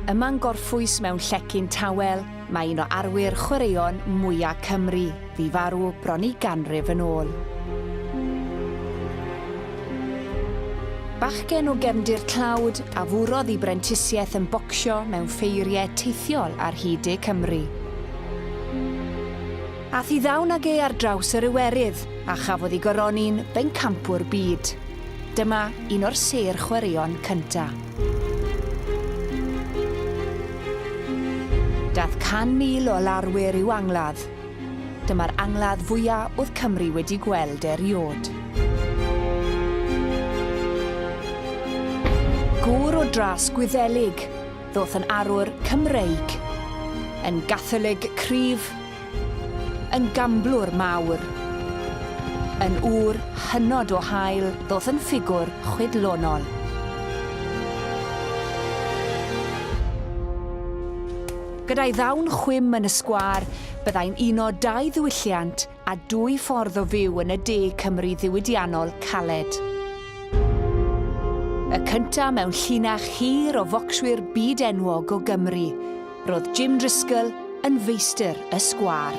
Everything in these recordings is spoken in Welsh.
Yma'n gorffwys mewn llecyn tawel, mae un o arwyr chwaraeon mwyaf Cymru, fi farw bron i ganrif yn ôl. Bachgen o gefndir tlawd a fwrodd i brentisiaeth yn bocsio mewn ffeiriau teithiol ar hyd de Cymru. Ath i ddawn ag e ar draws yr Iwerydd a chafodd i goroni'n bencampwr byd. Dyma un o'r sêr chwaraeon cynta. Dath 100,000 o larwyr i'w angladd. Dyma'r angladd fwya' o'dd Cymru wedi gweld eriôd. Gŵr o dras Gwyddelig, ddoth yn arwr Cymreig. Yn Gatholig cryf, Yn gamblwr mawr. Yn ŵr hynod o hael ddoth yn ffigwr chwydlonol. Gyda'i ddawn chwim yn y sgwâr, byddai'n uno dau ddiwylliant a dwy ffordd o fyw yn y de Cymru ddiwydiannol caled. Y cynta' mewn llinach hir o focswyr byd enwog o Gymru. Roedd Jim Driscoll yn feistr y sgwâr.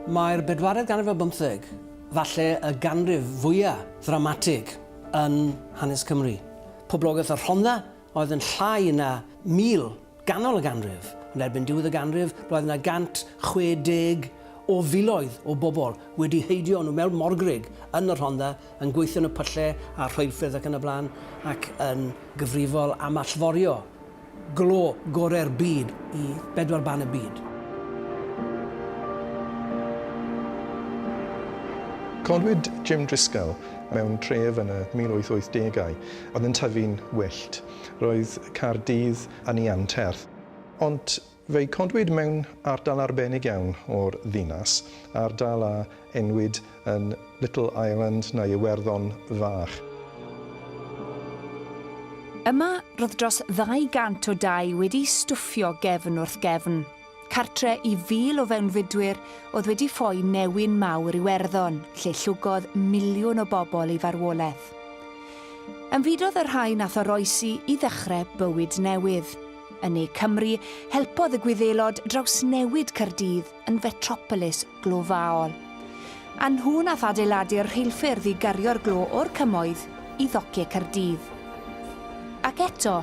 Mae'r bedwaredd ganrif ar bymtheg falle y ganrif fwyaf ddramatig yn hanes Cymru. Poblogaeth y Rhondda Oedd yn llai na 1,000 ganol y ganrif. Yn erbyn diwedd y ganrif, roedd yna 160 o filoedd o bobl wedi heidio nhw mewn morgrug yn y Rhondda, yn gweithio yn y pylle a'r rheilffyrdd ac yn y blaen, ac yn gyfrifol am allforio glo gorau'r byd i bedwar ban y byd. Codwyd Jim Driscoll mewn tref yn y 1880au. Oedd yn tyfu'n wyllt. Roedd Caerdydd yn ei anterth. Ond fe'i codwyd mewn ardal arbennig iawn o'r ddinas, ardal a enwyd yn Little Ireland neu Iwerddon Fach. Yma roedd dros 200 o dai wedi stwffio gefn wrth gefn. Cartre i fil o fewnfudwyr oedd wedi ffoi newyn mawr Iwerddon, lle llwgodd miliwn o bobl ei farwolaeth. Ymfudodd y rhai nath oroesi i ddechrau bywyd newydd. Yn ne Cymru, helpodd y Gwyddelod drawsnewid Caerdydd yn fetropolis glofaol. A nhw nath adeiladu'r rheilffyrdd i gario'r glo o'r Cymoedd i ddocie Caerdydd. Ac eto,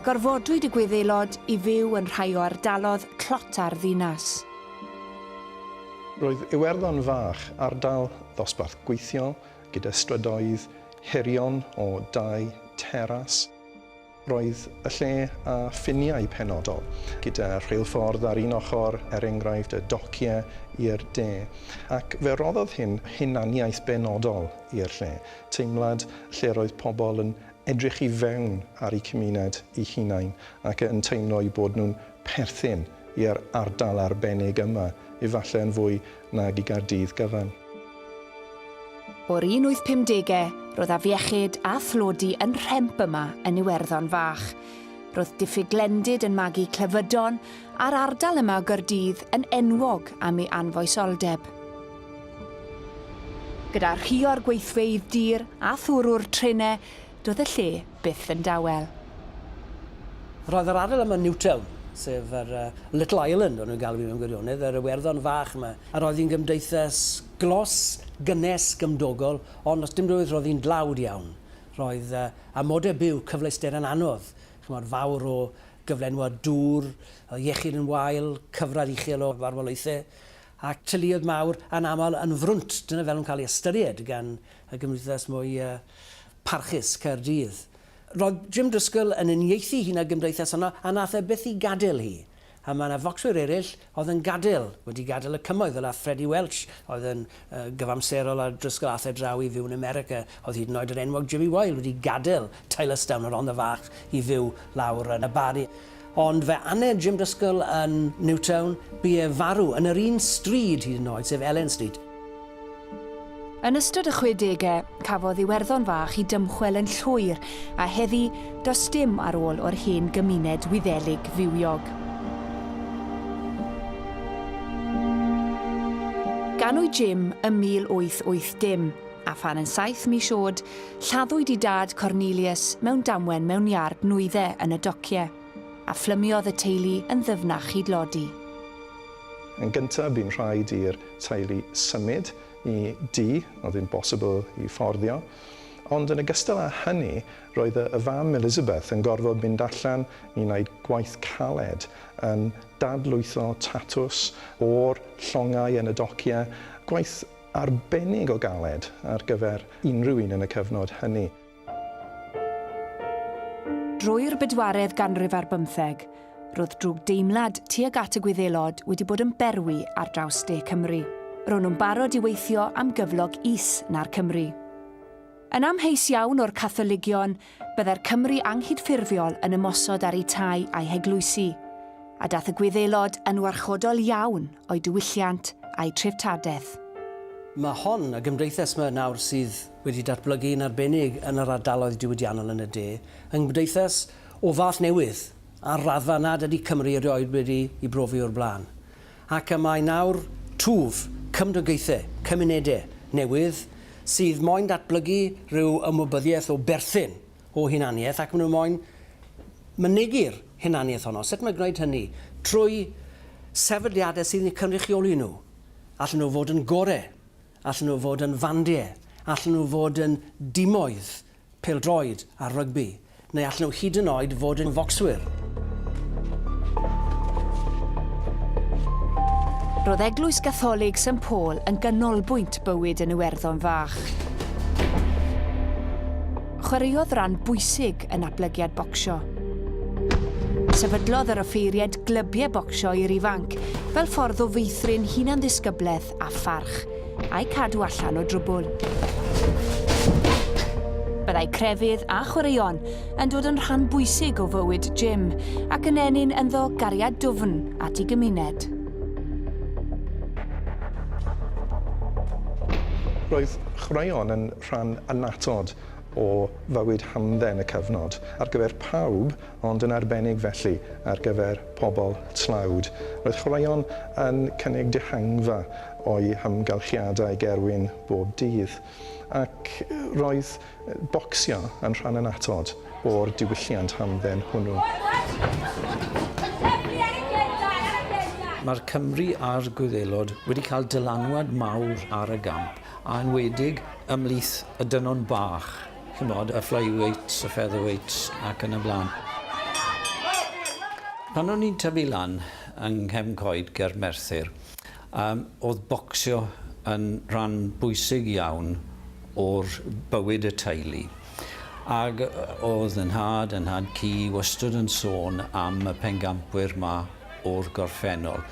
Gorfodwyd y Gwyddelod i fyw yn rhai o ardalodd tlota'r ddinas. Roedd Iwerddon Fach, ardal ddosbarth gweithiol, gyda strydoedd hirion o dai teras. Roedd y lle â ffiniau penodol, gyda rheilffordd ar un ochr, er enghraifft, y dociau i'r de, ac fe roddodd hyn hunaniaeth benodol i'r lle, teimlad lle roedd pobl yn edrych i fewn ar eu cymuned eu hunain ac yn teimlo eu bod nhw'n perthyn i'r ardal arbennig yma, efallai yn fwy nag i Gaerdydd gyfan. O'r 1850au, roedd afiechyd a thlodi yn rhemp yma yn Iwerddon Fach. Roedd diffyg glendid yn magu clefydon, a'r ardal yma o Gaerdydd yn enwog am ei anfoesoldeb. Gyda rhio'r gweithfeydd dur a thwrw'r trenau, doedd y lle byth yn dawel. Roedd yr ardal yma yn Newtown, sef yr Little Ireland o'n nhw'n galw hi mewn gwirionedd, yr Iwerddon fach yma, a roedd hi'n gymdeithas glos, gynnes, gymdogol, ond os dim rwydd roedd hi'n dlawd iawn. Roedd amodau byw, cyfleuster yn anodd, chimod, fawr o gyflenwad dŵr, oedd iechyd yn wael, cyfradd uchel o farwolaethau, Ac teuluoedd mawr anaml yn frwnt, dyna fel yn cael ei ystyried gan y gymdeithas mwy parchus, Caerdydd. Roedd Jim Driscoll yn uniaethu hi 'na'r gymdeithas honno, a nath e byth i gadel hi. A mae 'na focswyr eraill oedd yn gadel, wedi gadel y cymoedd, fel ath Freddie Welch, oedd yn gyfamserol ar Driscoll, ath e draw i fyw yn America. Oedd hyd yn oed yr enwog Jimmy Wile wedi gadel Tylorstown, y Rhondda Fach, i fyw lawr yn y Barri. Ond fe aned Jim Driscoll yn Newtown, bu ef farw yn yr un stryd hyd yn oed, sef Elen Street. Yn ystod y chwedegau, cafodd Iwerddon Fach i dymchwel yn llwyr, a heddi, does dim ar ôl o'r hen gymuned Wyddelig fywiog. Ganwyd Jim ym 1880. A phan yn saith mis oed, lladdwyd i dad Cornelius mewn damwen mewn iard nwyddau yn y docie, a phlymiodd y teulu yn ddyfnach hyd Lodi. Yn gyntaf, bu'n rhaid i'r teulu symud i dŷ oedd ddim bosibl i fforddio, ond yn ogystal â hynny, roedd y fam Elizabeth yn gorfod mynd allan i wneud gwaith caled, yn dadlwytho tatws o'r llongau yn y docie, gwaith arbennig o galed ar gyfer unrhyw un yn y cyfnod hynny. Drwy'r bedwaredd ganrif ar bymtheg, roedd drwg deimlad tuag at y Gwyddelod wedi bod yn berwi ar draws de Cymru. Ro'n nhw'n barod i weithio am gyflog is na'r Cymry. Yn amheus iawn o'r Catholigion, Byddai'r Cymry anghydffurfiol yn ymosod ar eu tai a'u heglwysi, a daeth y Gwyddelod yn warchodol iawn o'u diwylliant a'u treftadaeth. Mae hon, y gymdeithas 'ma nawr sydd wedi datblygu yn arbennig yn yr ardaloedd diwydiannol yn y de, yn gymdeithas o fath newydd ar raddfa nad ydy Cymru erioed wedi ei brofi o'r blaen. Ac y mae nawr twf, cymdogaethau, cymunedau, newydd, sydd moyn datblygu rhyw ymwybyddiaeth o berthyn, o hunaniaeth, ac maen nhw moyn mynegi'r hunaniaeth honno. Sut mae gwneud hynny? Trwy sefydliadau sydd yn eu cynrychioli nhw. Allan nhw fod yn gorau, allan nhw fod yn fandiau, allan nhw fod yn dimoedd, pêl-droed a rygbi, neu allen nhw hyd yn oed fod yn focswyr. Roedd Eglwys Gatholig St Paul yn ganolbwynt bywyd yn Iwerddon fach. Chwaraeodd ran bwysig yn ablygiad bocsio. Sefydlodd yr offeiriaid glybiau bocsio i'r ifanc fel ffordd o feithrin hunan-ddisgyblaeth a pharch, a'u cadw allan o drwbwl. Byddai crefydd a chwaraeon yn dod yn rhan bwysig o fywyd Jim ac yn ennyn ynddo gariad dwfn at ei gymuned. Roedd chwaraeon yn rhan annatod o fywyd hamdden y cyfnod. Ar gyfer pawb, ond yn arbennig felly ar gyfer pobl tlawd. Roedd chwaraeon yn cynnig dihangfa o'u hamgylchiadau gerwin bob dydd, ac roedd bocsio yn rhan annatod o'r diwylliant hamdden hwnnw. Mae'r Cymry a'r Gwyddelod wedi cael dylanwad mawr ar y gamp, a enwedig ymhlith y dynon bach. Chimod, y flyweights, y featherweights ac yn y blaen. Pan o'n i'n tyfu lan yng Nghefn Coed ger Merthyr, yym, o'dd bocsio yn rhan bwysig iawn o'r bywyd y teulu. Ag o'dd 'y nhad, 'y nhad cu, wastod yn sôn am y pengampwyr 'ma o'r gorffennol.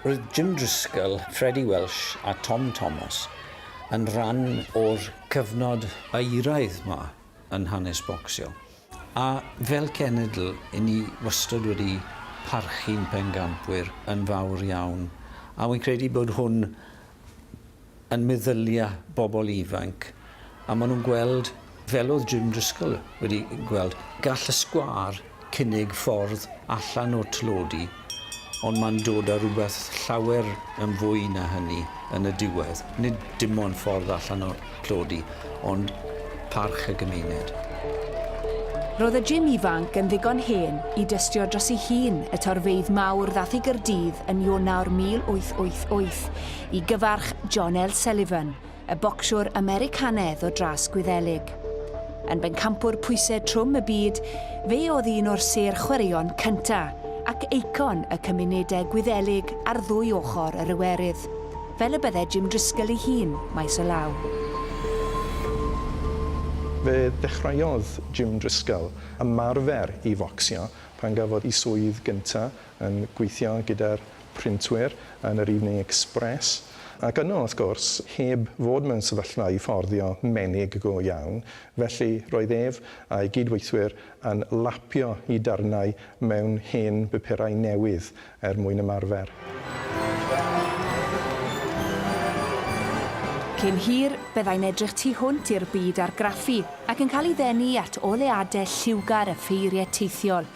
Roedd Jim Driscoll, Freddie Welsh a Tom Thomas yn rhan o'r Cyfnod eiraidd 'ma yn hanes bocsio, a fel cenedl 'yn ni wastod wedi parchu'n bencampwyr yn fawr iawn, a wi'n credu bod hwn yn meddylia bobl ifanc, a ma' nhw'n gweld, fel o'dd Jim Driscoll wedi gweld, gall y sgwâr cynnig ffordd allan o'r tlodi, ond mae'n dod â rhywbeth llawer yn fwy na hynny yn y diwedd, nid dim ond ffordd allan o'r tlodi, ond parch y gymuned. Roedd y Jim ifanc yn ddigon hen i dystio dros ei hun y torfeydd mawr ddaeth i Gaerdydd yn Ionawr 1888 i gyfarch John L. Sullivan, y bocsiwr Americanedd o dras Gwyddelig. Yn bencampwr pwysedd trwm y byd, fe oedd un o'r sêr chwaraeon cynta' ac eicon y cymunedau Gwyddelig ar ddwy ochr yr Iwerydd, fel y bydde Jim Driscoll ei hun maes o law. Fe ddechreuodd Jim Driscoll ymarfer i focsio pan gafodd ei swydd gynta' yn gweithio gyda'r printwyr yn yr Evening Express, ac yno, wrth gwrs, heb fod mewn sefyllfa i fforddio menig go iawn, felly roedd ef a'i gyd-weithwyr yn lapio i darnau mewn hen bupurau newydd er mwyn ymarfer. Cyn hir, byddai'n edrych tu hwnt i'r byd argraffu ac yn cael ei ddenu at oleadau lliwgar a pheiriau teithiol,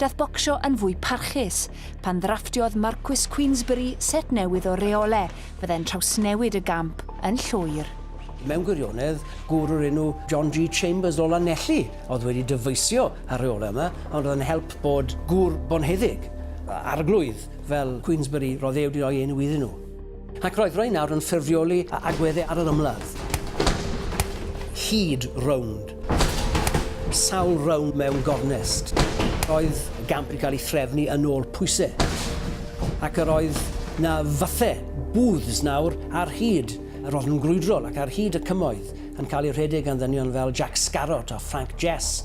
daeth bocsio yn fwy parchus pan ddrafftiodd Marcus Queensberry set newydd o reole fydde'n trawsnewid y gamp yn llwyr. Mewn gwirionedd, gŵr o'r enw John G Chambers o Lanelli oedd wedi dyfeisio ar reolau yma, ond oedd yn help bod gŵr bonheddig, arglwydd, fel Queensberry, roedd e wedi rhoi enw iddyn nhw. Ac roedd rhai nawr yn ffurfioli a agwedde ar yr ymladd. Hyd rownd. Sawl rownd mewn gornest. Roedd gamp yn cael ei threfnu yn ôl pwysau. Ac yr oedd na fathe booths nawr ar hyd yr oedd yn grwydrol ac ar hyd y cymoedd yn cael ei rhedeg gan ddynion fel Jack Scarrott a Frank Jess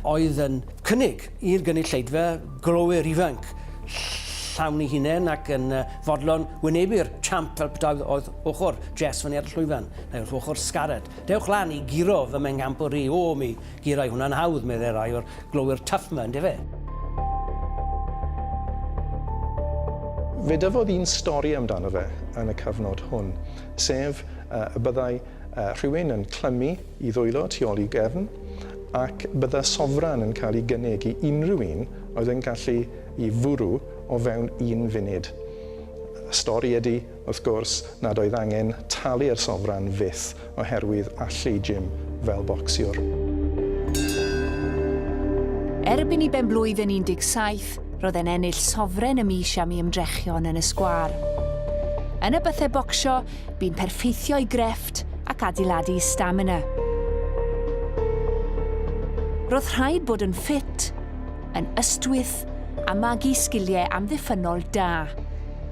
oedd yn cynnig I'r gynulleidfa glowyr ifanc, llawn ei hunain ac yn fodlon wynebu'r champ fel petae oedd ochr Jess fyny ar y llwyfan, neu wrth ochr Scarlett. Dewch lan i guro fy mhencampwr i, o, mi gurai hwnna'n hawdd, meddai rai o'r glowyr tuff 'ma, yndyfe? Fe dyfodd un stori amdano fe yn y cyfnod hwn, sef y byddai Rhywun yn clymu i ddwylo tu ôl i gefn, ac bydda sofran yn cael ei gynnig i unrhyw un oedd yn gallu i fwrw o fewn un funud. Y stori ydy, wrth gwrs, nad oedd angen talu'r sofran fyth oherwydd allu Jim fel bocsiwr. Erbyn i ben-blwydd yn 17, roedd e'n ennill sofren y mis am ei ymdrechion yn y sgwâr. Yn y bythau bocsio, Bu'n perffeithio i grefft ac adeiladu stamina. Roedd rhaid bod yn ffit, yn ystwyth a magu sgiliau amddiffynnol da.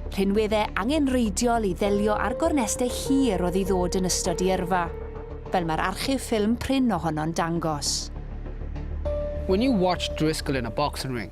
Rhinwedde angenrheidiol i ddelio â'r gornestau hir oedd i ddod yn ystod i yrfa, fel mae'r archif ffilm prin ohono'n dangos. When you watch Driscoll in a boxing ring,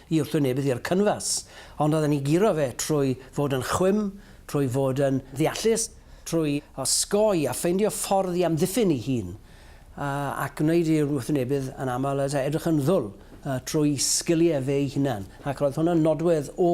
i wrthwynebydd i'r cynfas, ond oedden ni'n guro fe trwy fod yn chwim, trwy fod yn ddeallus, trwy osgoi a ffeindio ffordd i amddiffyn ei hun, ac gwneud i'r wrthwynebydd yn aml edrych yn ddwl trwy sgiliau fe'i hunan, ac roedd hwnna'n nodwedd o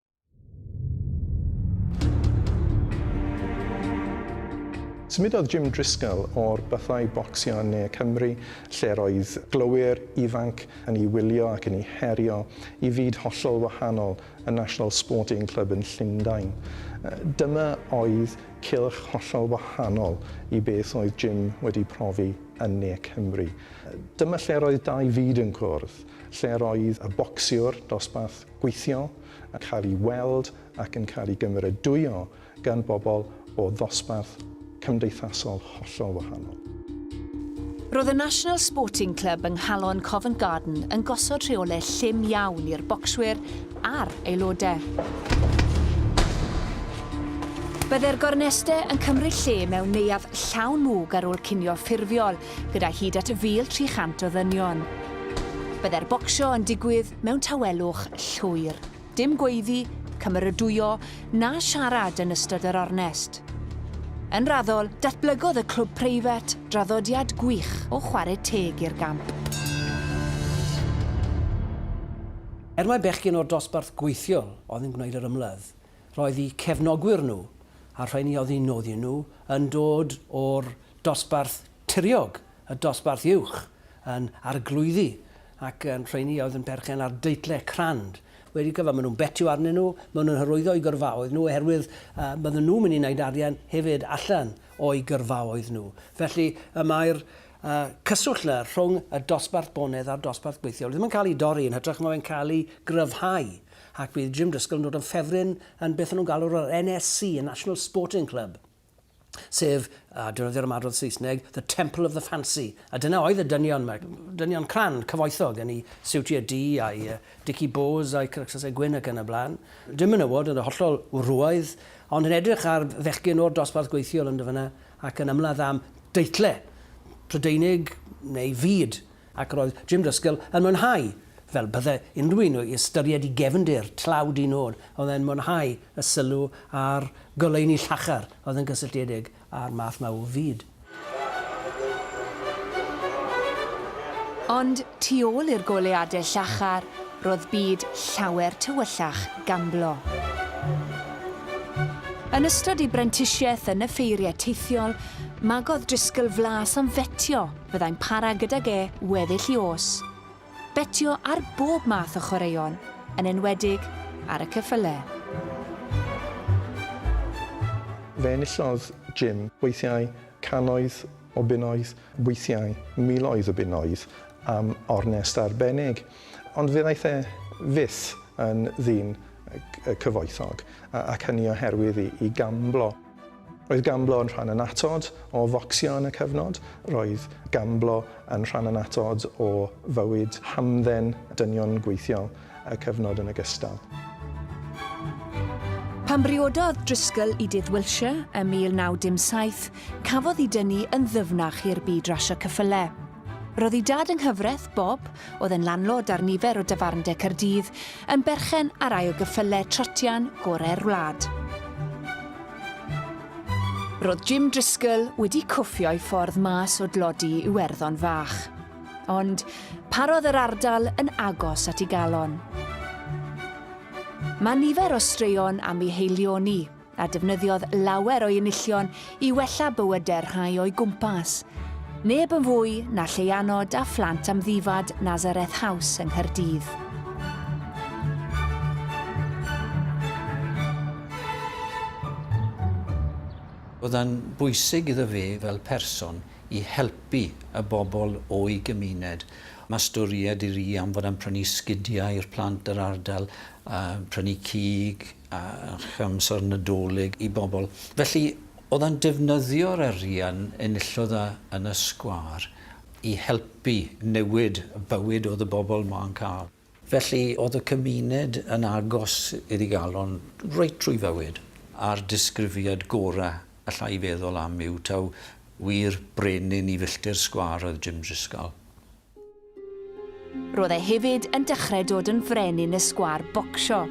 Symudodd Jim Driscoll o'r bythau bocsio yn Ne Cymru, lle roedd glowyr ifanc yn ei wylio ac yn ei herio, i fyd hollol wahanol, y National Sporting Club yn Llundain. Dyma oedd cylch hollol wahanol i beth oedd Jim wedi profi yn Ne Cymru. Dyma lle roedd dau fyd yn cwrdd, lle roedd y bocsiwr dosbarth gweithio, yn cael ei weld ac yn cael ei gymeradwyo gan bobl o ddosbarth cymdeithasol hollol wahanol. Roedd y National Sporting Club yng nghalon Covent Garden yn gosod rheolau llym iawn i'r bocswyr a'r aelodau. Byddai'r gornestau yn cymryd lle mewn neuadd llawn mwg ar ôl cinio ffurfiol, gyda hyd at 1,300 o ddynion. Byddai'r bocsio yn digwydd mewn tawelwch llwyr. Dim gweiddi, cymeradwyo na siarad yn ystod yr ornest. Yn raddol, datblygodd y clwb preifat draddodiad gwych o chwarae teg i'r gamp. Er mai bechgyn o'r dosbarth gweithiol oedd yn gwneud yr ymladd, roedd eu cefnogwyr nhw a'r rheiny oedd eu noddi nhw yn dod o'r dosbarth Tiriog y dosbarth uwch yn arglwyddi ac yn rheiny oedd yn perchen ar deitlau crand wedi cyfan. Maen nhw'n betio arnyn nhw, maen nhw'n hyrwyddo eu gyrfaoedd nhw oherwydd bydden nhw'n mynd i wneud arian hefyd allan o'u gyrfaoedd nhw. Felly y mae'r cyswllt yna rhwng y dosbarth bonedd a'r dosbarth gweithiol ddim yn cael ei dorri, yn hytrach mae fe'n cael ei gryfhau ac bydd Jim Driscoll yn dod yn ffefryn yn beth o'n nhw'n galw yr NSC, y National Sporting Club. sef, a defnyddio'r ymadrodd Saesneg, the temple of the fancy. A dyna oedd y dynion yma, dynion cran, cyfoethog, yn ei siwtiau du a'i uh, dici bôs a'i cyrcsasau gwyn ac yn y blaen. Dim menywod yn y hollol wrwaidd, ond yn edrych ar fechgyn o'r dosbarth gweithiol yn dyfynna ac yn ymladd am deitle Prydeinig neu fyd. Ac roedd Jim Driscoll yn mwynhau, fel bydde unrhyw un o'i ystyried i gefndir tlawd un nod, oedd e'n mwynhau y sylw a'r goleuni llachar oedd yn gysylltiedig â'r math 'ma o fyd. Ond tu ôl i'r goleuadau llachar, roedd byd llawer tywyllach gamblo. Yn ystod ei brentisiaeth yn y ffeiriau teithiol, magodd Driscoll flas am fetio, Fyddai'n para gydag e weddill i os. Betio ar bob math o chwaraeon, yn enwedig ar y ceffylau. Fe enillodd Jim weithiau cannoedd o bunnoedd, weithiau miloedd o bunnoedd am ornest arbennig, ond fe ddaeth e fyth yn ddyn cyfoethog, ac hynny oherwydd i gamblo. Roedd gamblo yn rhan annatod o focsio yn y cyfnod, roedd gamblo yn rhan annatod o fywyd hamdden dynion gweithiol y cyfnod yn ogystal. Pan briododd Driscoll i Dydd Wiltshire ym 1917, cafodd i dynnu yn ddyfnach i'r byd rasio cyffyle. Roedd i dad yng nghyfraith, Bob, oedd yn landlord ar nifer o dafarndai Caerdydd, yn berchen ar rai o gyffylau trotian gorau'r wlad. Roedd Jim Driscoll wedi cwffio'i ffordd mas o dlodi Iwerddon fach. Ond parodd yr ardal yn agos at ei galon. Mae nifer o straeon am ei heilioni, a defnyddiodd lawer o'i enillion i wella bywydau'r rhai o'i gwmpas. Neb yn fwy na Lleianod a phlant amddifad Nazareth House yng Nghaerdydd. Oedd yn bwysig iddo fe fel person i helpu y bobl o'i gymuned. Mae storied i ri am fod yn prynu sgidiau i'r plant yr ardal, prynu cig, a chymhorthi'r Nadolig i bobl. Felly, oedd e'n defnyddio'r arian enillodd e yn y sgwâr i helpu newid y bywyd oedd y bobl 'ma'n cael. Felly, oedd y cymuned yn agos iddi galon reit trwy fywyd, a'r disgrifiad gorau alla i feddwl am yw taw wir brenin i filltir sgwâr oedd Jim Drisgall. Roedd e hefyd yn dechrau dod yn frenin y sgwâr bocsio.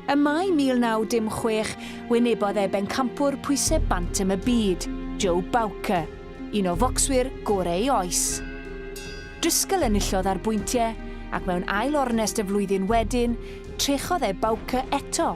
Ym Mai 1916, wynebodd e bencampwr pwysau bantam y byd, Joe Bowker, un o focswyr gorau ei oes. Driscoll enillodd ar bwyntiau, ac mewn ail ornest y flwyddyn wedyn, trechodd e Bowker eto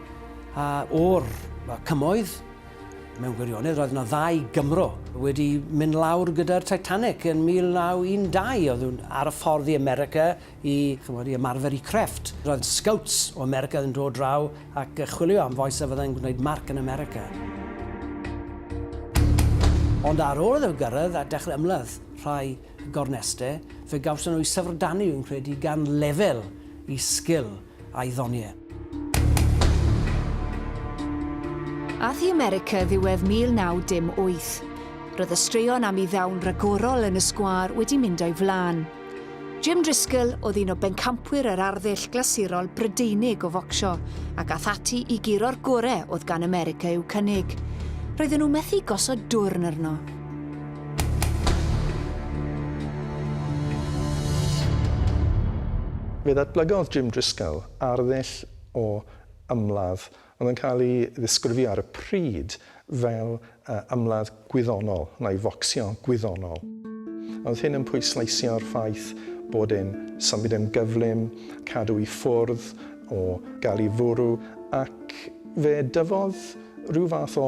A o'r cymoedd, mewn gwirionedd, roedd yna ddau Gymro wedi mynd lawr gyda'r Titanic yn 1912. Oedd nhw'n ar y ffordd i America i, chymod, i ymarfer i crefft. Roedd scouts o America yn dod draw ac yn chwilio am fois a fyddai'n gwneud marc yn America. Ond ar ôl iddo gyrraedd a dechrau ymladd rhai gorneste, fe gawson nhw eu syfrdanu, fi'n credu, gan lefel i sgil. a'i ddoniau. Ath i America ddiwedd 1918. Roedd y straeon am ei ddawn ragorol yn y sgwâr wedi mynd o'i flaen. Jim Driscoll oedd un o bencampwyr yr arddull glasurol Brydeinig o focsio ac ath ati i guro'r gorau oedd gan America i'w cynnig. Roedden nhw methu gosod dwrn arno. Fe ddatblygodd Jim Driscoll arddull o ymladd oedd yn cael ei ddisgrifio ar y pryd fel ymladd gwyddonol neu focsio gwyddonol. Oedd hyn yn pwysleisio'r ffaith bod e'n symud yn gyflym, cadw i ffwrdd o gael ei fwrw ac fe dyfodd rhyw fath o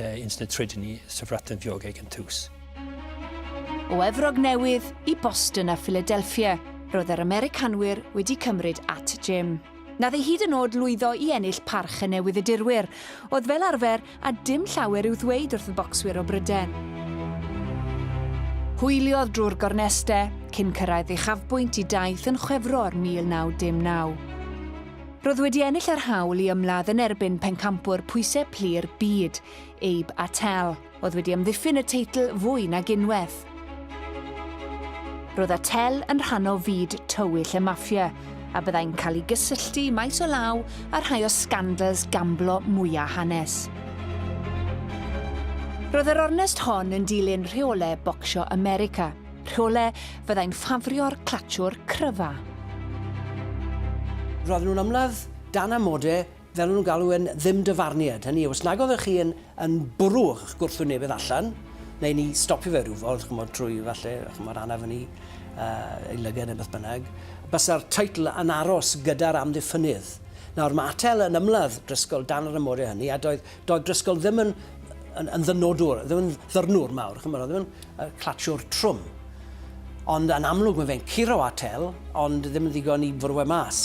yn sy'n y trydydd ni syfratan ddiogeg yn tus. O Efrog Newydd i Boston a Philadelphia, roedd yr Americanwyr wedi cymryd at Jim. Nath ei hyd yn oed lwyddo i ennill parch y newyddiadurwyr, oedd fel arfer a dim llawer i'w ddweud wrth y bocswyr o Bryden. Hwyliodd drwy'r gorneste cyn cyrraedd ei chafbwynt i daith yn Chwefror 1919. Roedd wedi ennill yr hawl i ymladd yn erbyn pencampwr pwysau plu'r byd, Abe Attell, oedd wedi amddiffyn y teitl fwy nag unwaith. Roedd Attell yn rhan o fyd tywyll y maffia, a byddai'n cael ei gysylltu maes o law â rhai o sgandals gamblo mwyaf hanes. Roedd yr ornest hon yn dilyn rheolau bocsio America, Rhole, fyddai'n ffafrio'r clatiwr cryfa. Roedden nhw'n ymladd dan amode, fel o'n nhw'n galw e'n ddim-dyfarniad. Hynny yw, os nag oeddech chi yn, yn bwrw eich gwrthwyn newydd allan, neu ni stopio fe rhyw fodd, chymod, trwy falle, chymod, anaf yn ei, uh, ei lyged neu beth bynnag, bysa'r teitl yn aros gyda'r amddiffynydd. Nawr, mae Atel yn ymladd Drisgol dan yr ymodau hynny, a doedd, doedd Drisgol ddim yn, yn, yn ddynodwr, ddim yn ddyrnwr mawr, chymod, ddim yn y clatshwr trwm. Ond yn amlwg mae fe'n curo Attel, ond ddim yn ddigon i fwrw e mas.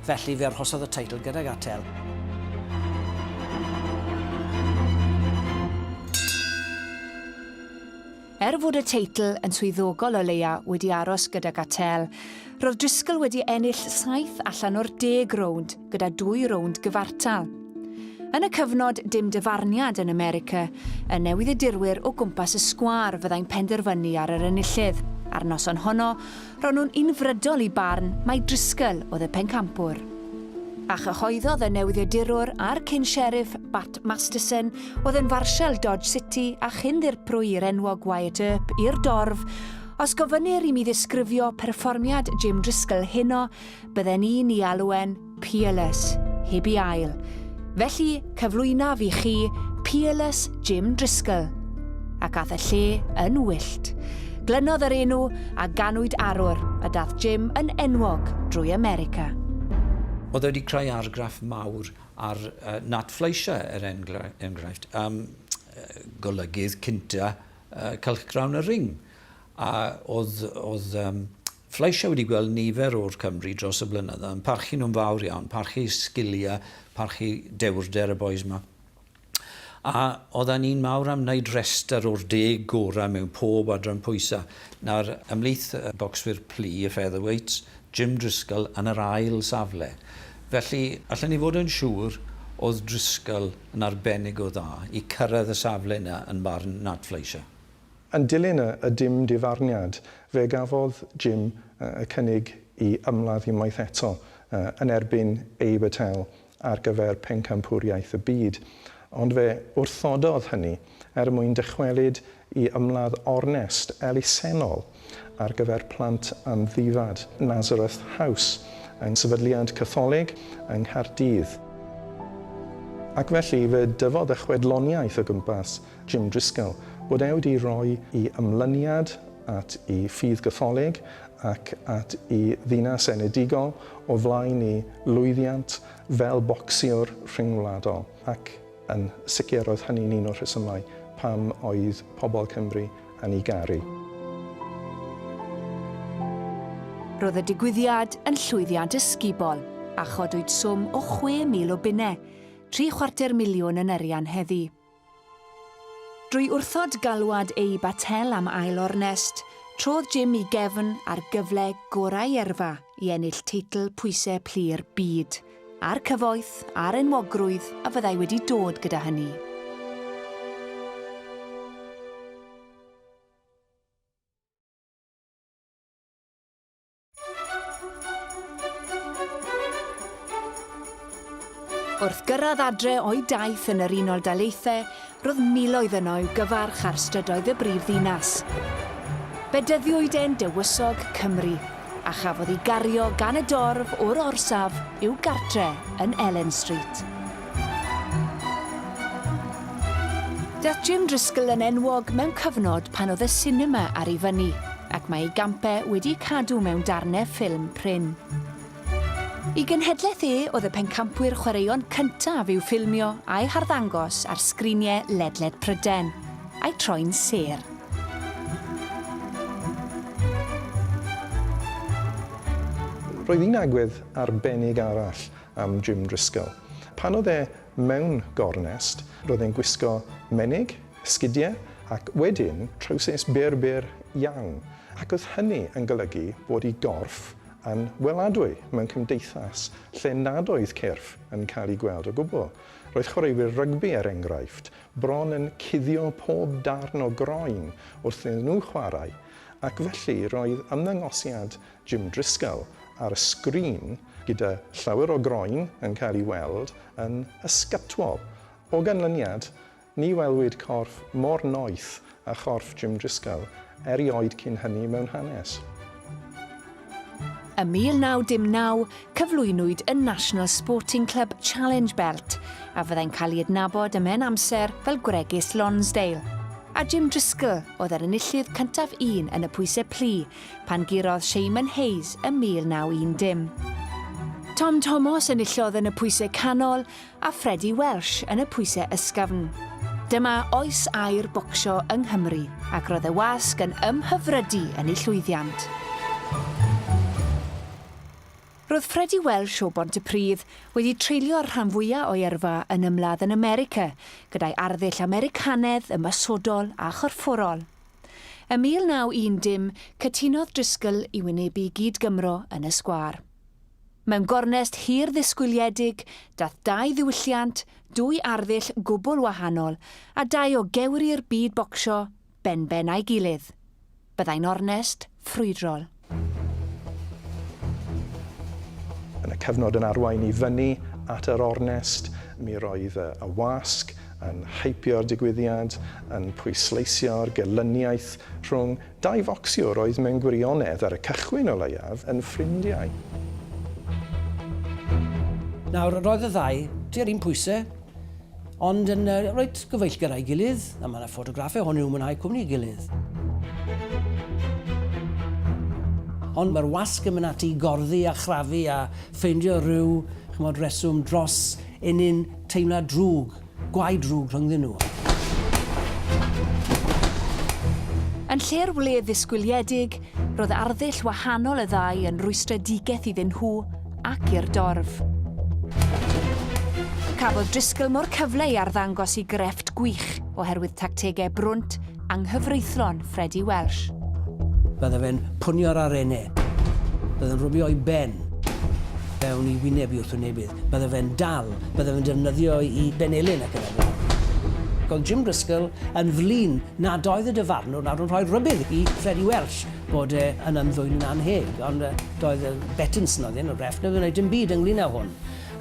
Felly fe arhosodd y teitl gydag Attel. Er fod y teitl yn swyddogol o leia wedi aros gydag Attel, roedd Driscoll wedi ennill saith allan o'r deg rownd, gyda dwy rownd gyfartal. Yn y cyfnod dim dyfarniad yn America, y newyddiadurwyr o gwmpas y sgwâr fyddai'n penderfynu ar yr enillydd. A'r noson honno, ro'n nhw'n unfrydol i barn mai Driscoll oedd y pencampwr. A chyhoeddodd y newyddiadurwr a'r cyn-sheriff Bat Masterson oedd yn farsial Dodge City a chyn-ddirprwy i'r enwog Wyatt Earp i'r dorf, Os gofynnir i mi ddisgrifio perfformiad Jim Driscoll heno, bydden i'n i alw e'n peerless, heb i ail. Felly, cyflwynaf i chi Peerless Jim Driscoll. Ac ath y lle yn wyllt. Glynodd yr enw a ganwyd arwr a dath Jim yn enwog drwy America. Oedd e wedi creu argraff mawr ar uh, Nat Fleischer, er enghraifft, um, golygydd cynta uh, cylchgrawn y ring. A oedd, oedd um, Fleischer wedi gweld nifer o'r Cymry dros y blynydda yn parchu nhw'n fawr iawn, parchu sgilia, parchu dewrder y bois 'ma. A odda ni'n mawr am wneud rester o'r deg gora mewn pob adran pwysa. Nawr, ymhlith y bocswyr plu, y featherweights, Jim Driscoll yn yr ail safle. Felly, allen ni fod yn siŵr, o'dd Driscoll yn arbennig o dda i cyrraedd y safle 'na yn barn Nat Fleischer. Yn dilyn y dim difarniad, fe gafodd Jim y cynnig i ymladd unwaith eto yn erbyn Abe Attell ar gyfer Pencampwriaeth y Byd, ond fe wrthododd hynny er mwyn dychwelyd i ymladd ornest elusennol ar gyfer plant amddifad, Nazareth House, yng Nghyfydliad Catholig yng Nghaerdydd. Ac felly, fe dyfodd y chwedloniaeth o gwmpas Jim Driscoll, bod e wedi rhoi i ymlyniad at i ffydd Gatholig ac at i ddinas enedigol o flaen i lwyddiant fel bocsiwr rhyngwladol ac yn sicr oedd hynny'n un o'r rhesymau pam oedd pobl Cymru yn i garu. Roedd y digwyddiad yn llwyddiant ysgubol a chodwyd swm o 6,000 o bunnau, tri chwarter miliwn yn arian heddi. Drwy wrthod galwad eu batel am ail ornest, trodd Jim i gefn a'r gyfle gorau erfa i ennill teitl pwysau plu'r byd, a'r cyfoeth a'r enwogrwydd a fyddai wedi dod gyda hynny. Wrth gyrraedd adre o'i daith yn yr Unol Daleithiau, roedd miloedd yno i'w gyfarch ar strydoedd y brif ddinas. Bedyddiwyd e'n dywysog Cymru, a chafodd ei gario gan y dorf o'r orsaf i'w gartre yn Ellen Street. Daeth Jim Driscoll yn enwog mewn cyfnod pan oedd y sinema ar ei fyny, ac mae ei gampau wedi'u cadw mewn darnau ffilm prin. I genhedlaeth e oedd y pencampwyr chwaraeon cyntaf i'w ffilmio a'i harddangos ar sgriniau ledled Prydain, a'i troi'n sêr. Roedd un agwedd arbennig arall am Jim Driscoll. Pan oedd e mewn gornest, roedd e'n gwisgo menig, sgidiau ac wedyn trowsus byr byr iawn, ac oedd hynny yn golygu bod 'i gorff yn weladwy mewn cymdeithas lle nad oedd cyrff yn cael eu gweld o gwbl. Roedd chwaraewyr rygbi, er enghraifft, bron yn cuddio pob darn o groen wrth iddyn nhw chwarae, ac felly roedd ymddangosiad Jim Drisgall ar y sgrin gyda llawer o groen yn cael ei weld yn ysgatwol. O ganlyniad, ni welwyd corff mor noeth â chorff Jim Drisgall erioed cyn hynny mewn hanes. Ym 1919, cyflwynwyd y National Sporting Club Challenge Belt, a fyddai'n cael ei adnabod ym mhen amser fel Gwregys Lonsdale. A Jim Drisgall oedd yr enillydd cyntaf un yn y pwysau plu, pan gurodd Seimon Hayes ym 1910. Tom Tomos enillodd yn y pwysau canol a Freddie Welsh yn y pwysau ysgafn. Dyma oes aur bocsio yng Nghymru ac roedd y wasg yn ymhyfrydu yn eu llwyddiant. Roedd Freddie Welsh o Bontypridd wedi treulio'r rhan fwyaf o'i yrfa yn ymladd yn America gyda'i arddull Americanedd ymosodol a chorfforol. Ym 1910, cytunodd Driscoll i wynebu gyd-Gymro yn y sgwâr. Mewn gornest hir ddisgwyliedig, daeth dau ddiwylliant, dwy arddull gwbl wahanol, a dau o gewri'r byd bocsio, benben â'i gilydd. Byddai'n ornest, ffrwydrol. Yn y cyfnod yn arwain i fyny at yr ornest, mi roedd y wasg yn hypio'r digwyddiad, yn pwysleisio'r gelyniaeth rhwng dau focsiwr oedd mewn gwirionedd, ar y cychwyn o leiaf, yn ffrindiau. Nawr, roedd y ddau tua'r un pwysau, Ond yn uh, reit gyfeillgar a'i gilydd, a mae yna ffotograffau hon i'w mwynhau cwmni i gilydd. Ond mae'r wasg yn mynd ati i gorddi a chrafu a ffeindio rhyw chymod, reswm dros enyn teimlad drwg, gwaed drwg rhyngddyn nhw. Yn lle'r wledd ddisgwyliedig, Roedd arddull wahanol y ddau yn rwystredigaeth iddyn nhw ac i'r dorf. Cafodd Driscoll mo'r cyfle i arddangos i grefft gwych oherwydd tactegau brwnt anghyfreithlon Freddie Welsh. Bydde fe'n punio'r arenau. Bydde'n rhwbio ei ben fewn i wyneb i wrthwynebydd. Bydde fe'n dal, bydde fe'n defnyddio i benelin ac yn y blaen. Ac oedd Jim Driscoll yn flin nad oedd y dyfarnwr nawr yn rhoi rhybudd i Freddie Welsh bod e yn ymddwyn annheg, ond yy, doedd yy Bettinson oedd un o'r ref, neb yn wneud dim byd ynglyn â hwn.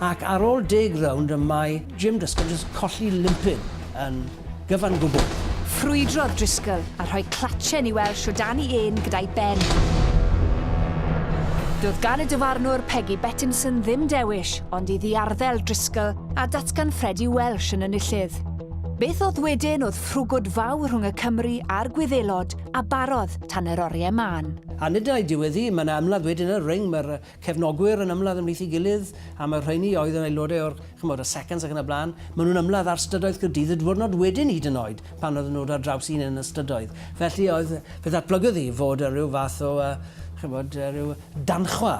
Ac ar ôl deg rownd y mae Jim Driscoll jyst colli limpid yn Gyfan gwbl. Ffrwydrodd Driscoll a rhoi clatschen i Welsh o dan i ên gyda'i ben. Doedd gan y dyfarnwr Peggy Bettinson ddim dewis ond i ddiarddel Driscoll a datganffredu Welsh yn ynillydd. Beth oedd wedyn oedd ffrwgwd fawr rhwng y Cymry a'r Gwyddelod a barodd tan yr oriau mân. A nid ai diwedd hi, mae yna ymladd wedyn yn y ring, mae'r cefnogwyr yn ymladd ymhlith ei gilydd, a mae'r rheiny oedd yn aelodau o'r, ch'mod, y Seconds ac yn y blaen, maen nhw'n ymladd ar stydoedd Caerdydd y diwrnod wedyn hyd yn oed, pan oedden nhw ar draws un yn y stydoedd. Felly oedd, fe ddatblygodd hi fod y rhyw fath o, uh, ch'mod, uh, rhyw danchwa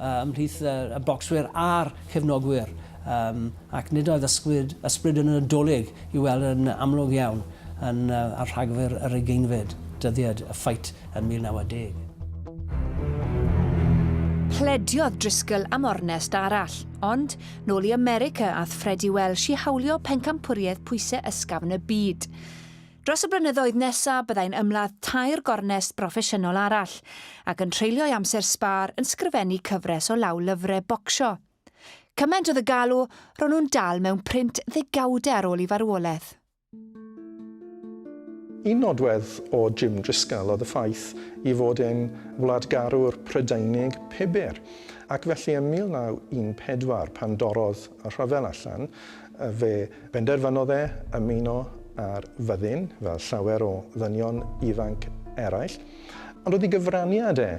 uh, ymhlith uh, y bocswyr a'r cefnogwyr, um, ac nid oedd ysbryd, ysbryd yn y Nadolig i weld yn amlwg iawn yn, uh, ar rhagfyr yr ugeinfed dyddiad, y ffait yn 1910. Plediodd Driscoll am ornest arall, ond, nôl i America ath Fred i Welsh i hawlio pencampwriaeth pwysau ysgafn y byd. Dros y blynyddoedd nesaf byddai'n ymladd tair gornest broffesiynol arall, ac yn treulio'i amser sbâr yn sgrifennu cyfres o law lyfrau bocsio. Cymaint oedd y galw, ro'n nhw'n dal mewn print ddegawdau ar ôl i farwolaeth. Un nodwedd o Jim Drisgall oedd y ffaith ei fod e'n wladgarwr Prydeinig pibur, ac felly ym 1914, pan dorrodd y rhyfel allan, fe benderfynodd e ymuno â'r fyddin, fel llawer o ddynion ifanc eraill. Ond oedd ei gyfraniad e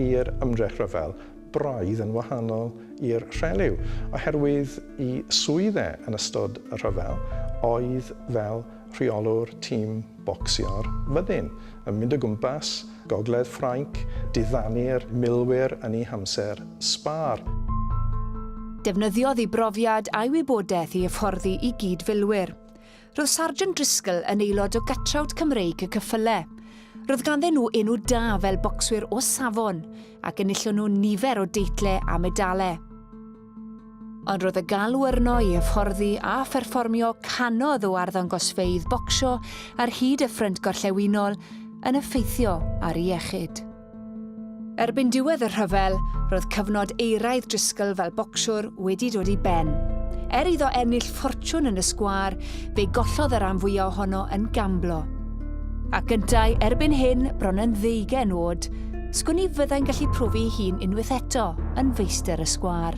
i'r ymdrech rhyfel braidd yn wahanol i'r rhelyw, oherwydd i swydd e yn ystod y rhyfel oedd fel rheolwr tîm bocsio'r fyddin, yn mynd o gwmpas gogledd Ffrainc, diddanu'r milwyr yn eu hamser sbâr. Defnyddiodd ei brofiad a'i wybodaeth i hyfforddi i gyd-filwyr. Roedd Sargeant Driscoll yn aelod o gatrawd Cymreig y cyffyle. Roedd ganddyn nhw enw da fel bocswyr o safon ac enillon nhw nifer o deitlau a medalau. Ond roedd y galw arno i hyfforddi a pherfformio canodd o arddangosfeydd bocsio ar hyd y ffrynt gorllewinol yn effeithio ar ei iechyd. Erbyn diwedd y rhyfel, roedd cyfnod euraidd Driscoll fel bocsiwr wedi dod i ben. Er iddo ennill ffortiwn yn y sgwâr, fe gollodd y rhan fwyaf ohono yn gamblo. Ac yntau, erbyn hyn, bron yn ddeugen oed, sgwn i fyddai'n gallu profi ei hun unwaith eto yn feistr y sgwâr.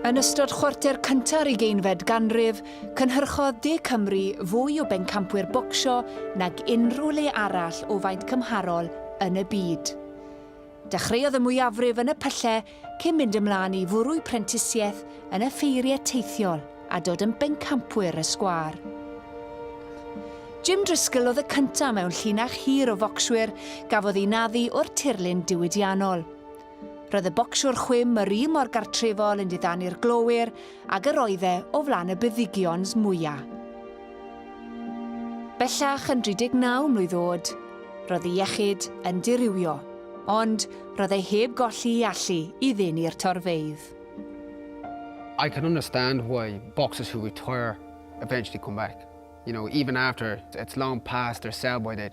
Yn ystod chwarter cynta'r ugeinfed ganrif, cynhyrchodd De Cymru fwy o bencampwyr bocsio nag unrhyw le arall o faint cymharol yn y byd. Dechreuodd y mwyafrif yn y pyllau cyn mynd ymlaen i fwrw'u prentisiaeth yn y ffeiriau teithiol a dod yn bencampwyr y sgwâr. Jim Driscoll oedd y cyntaf mewn llinach hir o focswyr gafodd eu naddu o'r tirlun diwydiannol. Roedd y bocsiwr chwim yr un mor gartrefol yn diddanu'r glowyr ag yr oedd e o flan y beddigions mwya. Bellach yn 39 mlwydd oed, roedd ei iechyd yn dirywio, ond roedd e heb golli ei allu i ddeni'r torfeydd. I can understand why boxers who retire eventually come back. You know, even after it's long past their sell-by date.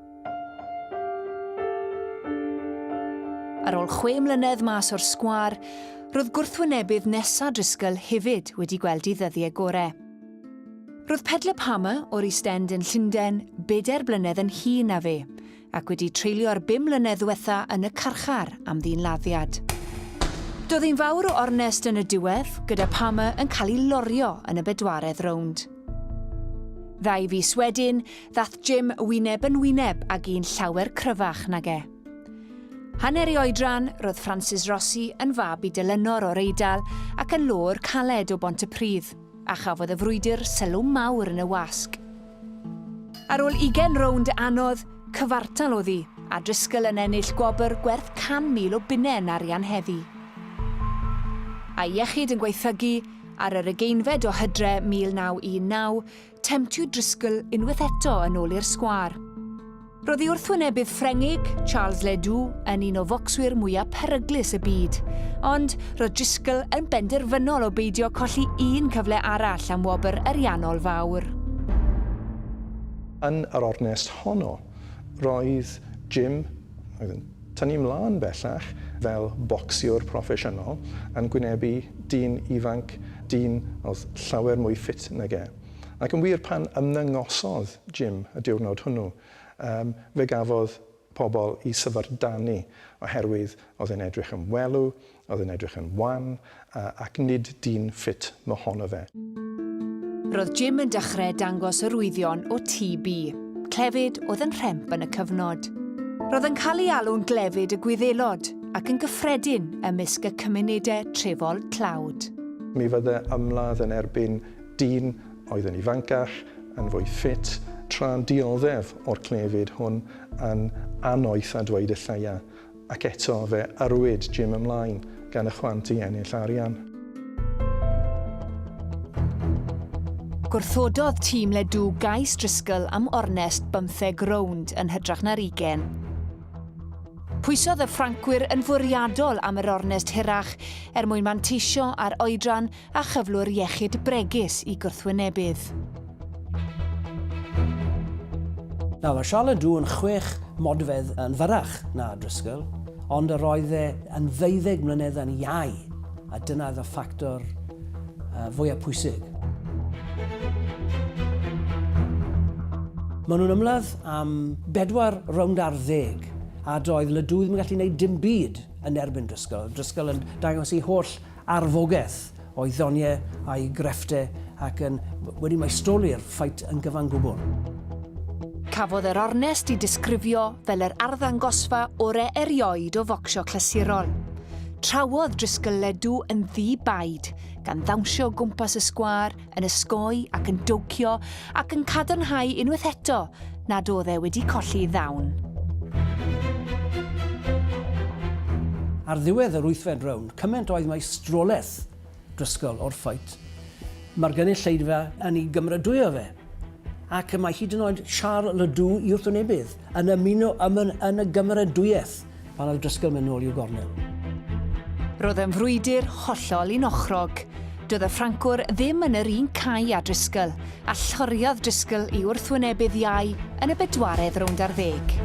Ar ôl chwe mlynedd mas o'r sgwâr, roedd gwrthwynebydd nesa Driscoll hefyd wedi gweld i ddyddiau gore. Roedd Pedler Palmer o'r East End yn Llundain bedair blynedd yn hun na fe, ac wedi treulio'r bum mlynedd ddiwetha yn y carchar am ddyn laddiad. Doedd ein fawr o ornest yn y diwedd, gyda Palmer yn cael ei lorio yn y bedwaredd rownd. Ddau fis wedyn, Ddath Jim wyneb yn wyneb ag un llawer cryfach nag e. Hanner ei oedran, roedd Francis Rossi yn fab i Dylynor o'r Eidal ac yn lôr caled o Bont y Pridd, a chafodd y frwydr sylw mawr yn y wasg. Ar ôl ugen rownd anodd, cyfartal oddi, a Driscoll yn ennill gwobr gwerth 100,000 o bunnau yn arian heddi. A'i iechyd yn gwaethygu, ar yr ugeinfed o hydre 1919, Temtu Driscoll unwaith eto yn ôl i'r sgwâr. Roedd ei wrthwynebydd Ffrengig, Charles Ledoux, yn un o focswyr mwyaf peryglus y byd, ond roedd Driscoll yn benderfynol o beidio colli un cyfle arall am wobr ariannol fawr. Yn yr ornest honno, roedd Jim, oedd yn Tan ni 'mlaen bellach, fel bocsiwr proffesiynol, yn gwynebu dyn ifanc, dyn oedd llawer mwy ffit nag e. Ac yn wir, pan ymddangosodd Jim y diwrnod hwnnw, yym, fe gafodd pobl 'u syfrdanu oherwydd oedd e'n edrych yn welw, Oedd yn edrych yn wan ac nid dyn ffit mohono fe. Roedd Jim yn dechreu dangos arwyddion o TB. Clefyd oedd yn rhemp yn y cyfnod. Roedd yn cael ei alw'n glefyd y Gwyddelod ac yn gyffredin ymysg y cymunedau trefol tlawd. Mi fydde ymladd yn erbyn dyn oedd yn ifancach, yn fwy ffit, tra'n dioddef o'r clefyd hwn yn anoeth a dweud y lleia. Ac eto fe arwyd Jim ymlaen gan y chwant i ennill arian. Gwrthododd tîm Ledww gais Driscoll am ornest bymtheg rownd yn hytrach na'r ugain. Pwysodd y Ffrancwyr yn fwriadol am yr ornest hirach er mwyn manteisio ar oedran a chyflwr iechyd bregus i gwrthwynebydd. Nawr, mae Charlotte Dew yn chwech modfedd yn fyrrach na Driscoll, ond yr oedd e yn ddeuddeg mlynedd yn iau, a dyna oedd y ffactor uh, fwyaf pwysig. Maen nhw'n ymladd am bedwar rownd ar ddeg a doedd Ledoux ddim yn gallu gwneud dim byd yn erbyn Driscoll. Driscoll yn dangos ei holl arfogaeth o'i ddoniau a'i greffte ac yn wedi maestoli'r ffait yn gyfan gwbl. Cafodd yr ornest i disgrifio fel yr arddangosfa ore erioed o focsio clasurol. Trawodd Driscoll Ledoux yn ddi-baid, gan ddawnsio o gwmpas y sgwâr, yn ysgoi ac yn dowcio ac yn cadarnhau unwaith eto nad oedd e wedi colli ddawn. Ar ddiwedd yr wythfed rownd, cymaint oedd maestrolaeth Driscoll o'r ffait, mae'r gynulleidfa yn ei gymrydwyo fe, ac mae hyd yn oed Charles Ledoux i wrthwynebydd yn ymuno â Munn yn y gymrydwyaeth. pan oedd Driscoll mynd nôl i'w gornel. Roedd yn frwydr hollol unochrog. Doedd y Ffrancwr ddim yn yr un cae â Driscoll, a lloriodd Driscoll i wrthwynebydd iau yn y bedwaredd rownd ar ddeg.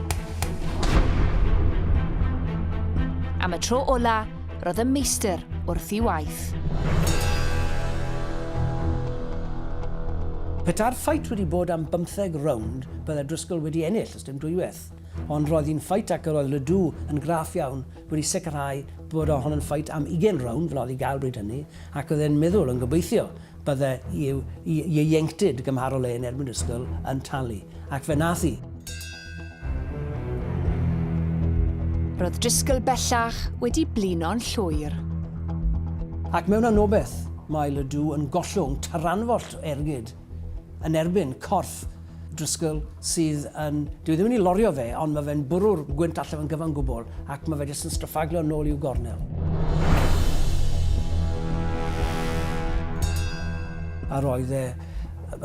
Am y tro ola, roedd y meistr wrth i waith. Peta'r ffait wedi bod am bymtheg rownd, bydde Driscoll wedi ennill, os dim dwywaith. Ond roedd hi'n ffait ac yr oedd Ledoux yn graff iawn wedi sicrhau bod o hon yn ffait am ugain rownd fel oedd i gael bryd hynny ac oedd e'n meddwl yn gobeithio bydde i'w ieuenctid gymharol e yn erbyn Driscoll yn talu. Ac fe nath hi. Roedd Driscoll bellach wedi blino'n llwyr. Ac mewn anobeth, mae Ledoux yn gollwng taranfollt o ergyd yn erbyn corff Driscoll sydd yn... Dwi ddim yn ei lorio fe, ond mae fe'n bwrw'r gwynt allan o'n gyfan gwbl ac mae fe jyst yn stryffaglio nôl i'w gornel. A roedd e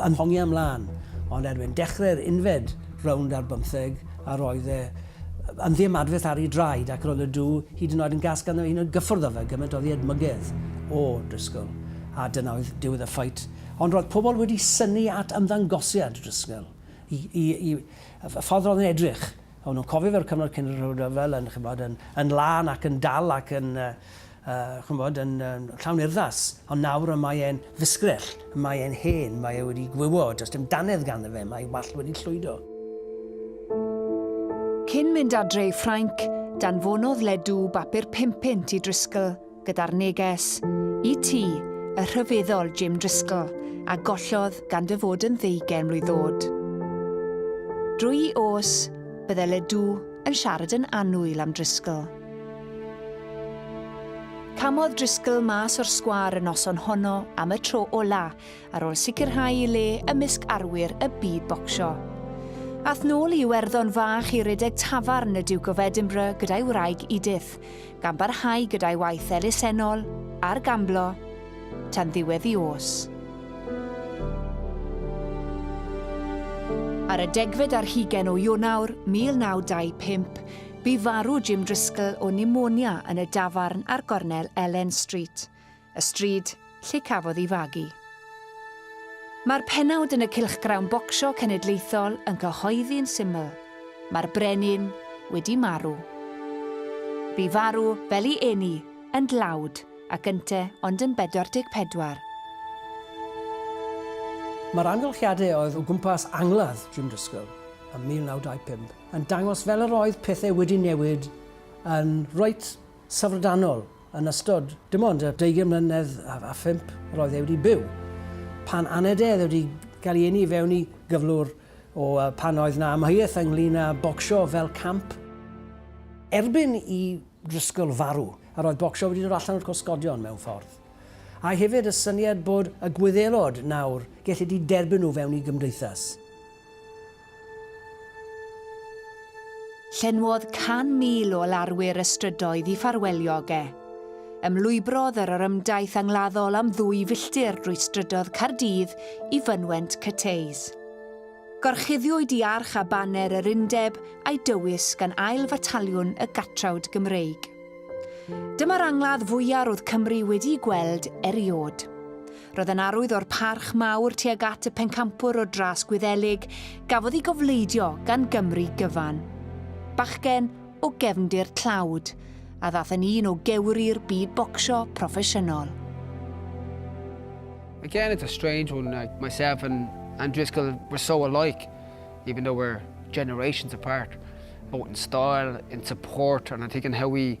yn hongi am lan, ond erbyn dechrau'r unfed rownd ar bymtheg, a roedd e yn ddiymadferth ar ei draed ac roedd y dŵ hyd yn oed yn gas ganddo hyd yn oed gyffwrdd â fe, gymaint oddi edmygedd o Driscoll. A dyna oedd diwedd y ffait. Ond roedd pobl wedi synnu at ymddangosiad Driscoll, i, i, i, y ffordd roedd yn edrych. O'n nhw'n cofio fe'r cyfnod cyn yr rhyfel yn, chymod, yn, yn lân ac yn dal ac yn, uh, uh, chymod, yn, yn llawn urddas. Ond nawr y mae e'n fusgrell, y mae e'n hen, mae e wedi gwywo, does dim danedd ganddo fe, mae wallt wedi llwydo. Cyn mynd adre i Ffrainc, danfonodd Ledoux bapur pum punt i Driscoll. gyda'r neges, i ti, y rhyfeddol Jim Driscoll, a gollodd gan dy fod yn ddeugain mlwydd ddod. Drwy os, bydde Ledoux yn siarad yn annwyl am Driscoll. Camodd Driscoll mas o'r sgwâr y noson honno am y tro ola, ar ôl sicrhau i le ymysg arwyr y byd bocsio. Ath nôl i Iwerddon fach i redeg tafarn y Duke of Edinburgh gyda'i wraig Edith, gan barhau gyda'i waith elusennol a'r gamblo tan ddiwedd i os. Ar y degfed ar hugen o Ionawr 1925, bu farw Jim Driscoll o pneumonia yn y dafarn ar gornel Ellen Street. y stryd lle cafodd ei fagu. Mae'r pennawd yn y Cylchgrawn Bocsio Cenedlaethol yn cyhoeddi'n syml, mae'r brenin wedi marw. Bu farw fel i eni yn dlawd ac ynte ond yn 44. Mae'r amgylchiadau oedd o gwmpas angladd Jim Driscoll ym 1925 yn dangos fel yr oedd pethau wedi newid yn reit syfrdanol. Yn ystod dim ond y deugain mlynedd a phump yr oedd e wedi byw, pan aned ef wedi cael ei eni fewn i gyflwr o pan oedd na amheuaeth ynglyn â bocsio fel camp, erbyn i Driscoll farw, yr oedd bocsio wedi dod allan o'r cosgodion mewn ffordd, a'i hefyd y syniad bod y Gwyddelod nawr gellid i derbyn nhw fewn i gymdeithas. Llenwodd 100,000 o larwyr y strydoedd i ffarwelio ag e. Ymlwybrodd yr orymdaith angladdol am ddwy filltir drwy strydoedd Caerdydd i fynwent Cathays. Gorchuddiwyd i arch a baner yr Undeb a'i dywys gan Ail Fataliwn y Gatrawd Gymreig. Dyma'r angladd fwya' ro'dd Cymru wedi'i gweld eriod. Roedd yn arwydd o'r parch mawr tuag at y pencampwr o dras Gwyddelig gafodd ei gofleidio gan Gymru gyfan. Bachgen o gefndir tlawd, a ddath yn un o gewri'r byd bocsio proffesiynol. Again, it's a strange one. Like myself and and Driscoll were so alike, even though we're generations apart, both in style, in support, and I think in how we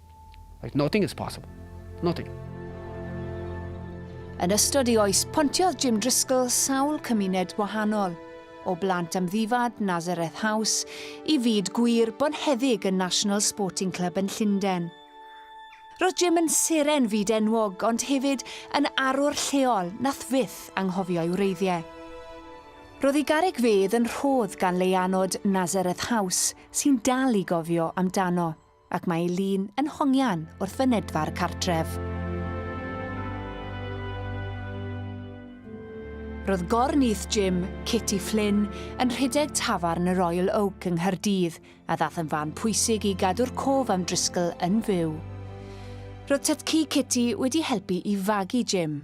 Like nothing is possible. Nothing. Yn ystod ei oes, pontiodd Jim Driscoll sawl cymuned wahanol, o blant amddifad Nazareth House i fyd gwir bonheddig y National Sporting Club yn Llundain. Roedd Jim yn seren fyd enwog, ond hefyd yn arwr lleol nath fyth anghofio'i wreiddiau. Roedd ei garreg fedd yn rhodd gan leianod Nazareth House sy'n dal i gofio amdano. Ac mae ei lun yn hongian wrth fynedfa'r cartref. Roedd gor nyth Jim, Kitty Flynn, yn rhedeg tafarn y Royal Oak yng Nghaerdydd, a ddath yn fan pwysig i gadw'r cof am Driscoll yn fyw. Roedd tytci Kitty wedi helpu i fagu Jim,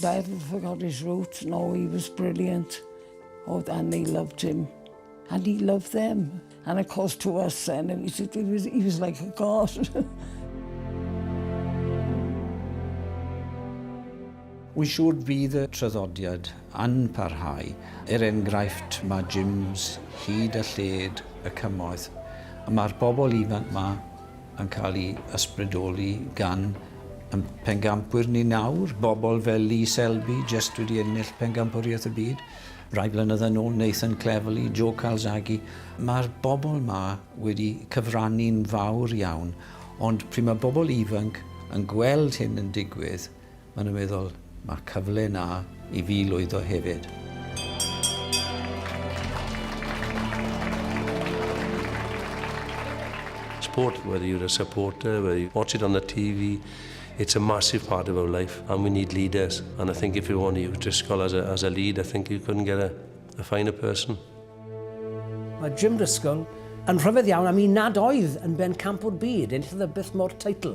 Dad forgot his roots, no he was brilliant oh, and they loved him and he loved them and of course to us then it was, it was, he was like a god Wy'n siŵr bydd y traddodiad yn parhau. Er enghraifft, mae gyms hyd a lled y cymoedd, a mae'r bobl ifanc 'ma yn cael ei ysbrydoli gan ein pencampwyr ni nawr, bobl fel Lee Selby, jyst wedi ennill Pencampwriaeth y Byd rai blynyddoedd yn ôl, Nathan Cleverly, Joe Calzaghe. Mae'r bobl ma wedi cyfrannu'n fawr iawn, ond pryd mae bobl ifanc yn gweld hyn yn digwydd, Maen nhw'n meddwl, 'Mae cyfle 'na i fi lwyddo hefyd. Sport, whether you're a supporter, whether you watch it on the TV, it's a massive part of our life and we need leaders. And I think if you want to use Driscoll as a, as a lead, I think you couldn't get a, a finer person. Mae Jim Driscoll yn rhyfedd iawn am un nad oedd yn ben campwr byd, enillodd y byth mor teitl